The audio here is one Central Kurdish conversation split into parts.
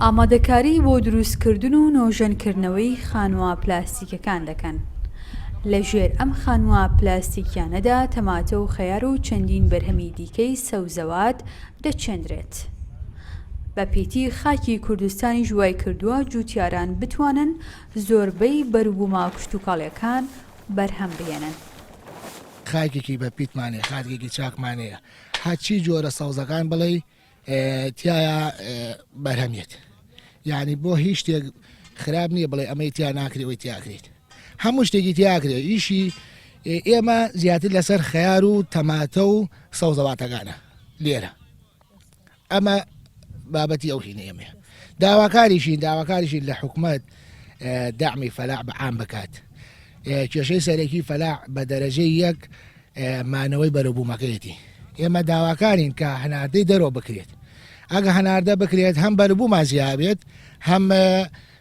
ئامادەکاری بۆ دروستکردن و نۆژەنکردنەوەی خانووە پلاستیکیەکان دەکەن لە ژێر ئەم خانووە پلاستیکیانەدا تەماتە و خەیار و چەندین بەرهەمی دیکەی سەوزەوات دەچێندرێت بە پیتی خاکی کوردستانیش وایکردووە جوتیاران بتوانن زۆربەی بەروبومە کشتوکاڵیەکان بەرهەم بهێنن. خاکێکی بە پیتمانەیە خاکێکی چاکمانەیە هەرچی جۆرە سەوزەکان بڵێی تایە بەرهەمێت یعنی بۆ هیچ شتێک خراپ نییە بڵێ ئەمەی تیا ناکرێت ئەوی تیاکرێت هەموو شتێکی تیاکرێت ئیشی ئێمە زیاتر لەسەر خەیار و تەماتە و سەوزەواتەکانە لێرە ئەمە بابەتی ئەو هینە ئێمە داواکاریشین داواکاریشین لە حکومت دامی فەلاع بە عام بکات کێشەی سەرەکی فەلاع بە دەرەجەی یەک مانەوەی بەرەبوومەکەیەتی ئێمە داواکارین کە هەناردەی دەرەوە بکرێت ئەگە هەناردە بکرێت هەم بەربوومان زیابێت هەم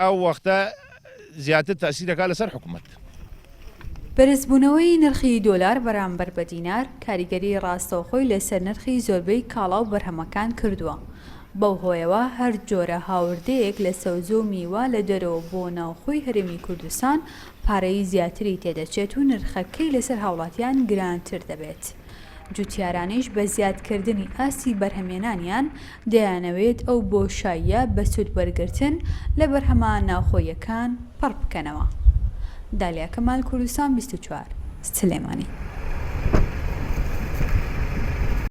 ئەو وەختە زیاتر تەئسیر دەکات لەسەر حکومەت. بەرزبوونەوەی نرخی دۆلار بەرامبەر بە دینار کاریگەری ڕاستەوخۆی لەسەر نرخی زۆربەی کاڵا و بەرهەمەکان کردووە، بەو هۆیەوە هەر جۆرە هاوردەیەک لە سەوزە و میوە لە دەرەوە بۆ ناوخۆی هەرێمی کوردستان پارەی زیاتری تێدەچێت و نرخەکەی لەسەر هاوڵاتیان گرانتر دەبێت. جوتیارانیش بە زیادکردنی ئاستی بەرهەمێنانیان دەیانەوێت ئەو بۆشاییە بە سوود وەرگرتن لە بەرهەمە ناوخۆییەکان پڕ بکەنەوە. دالیا کەمال کوردستان بیست و چوار، سلێمانی.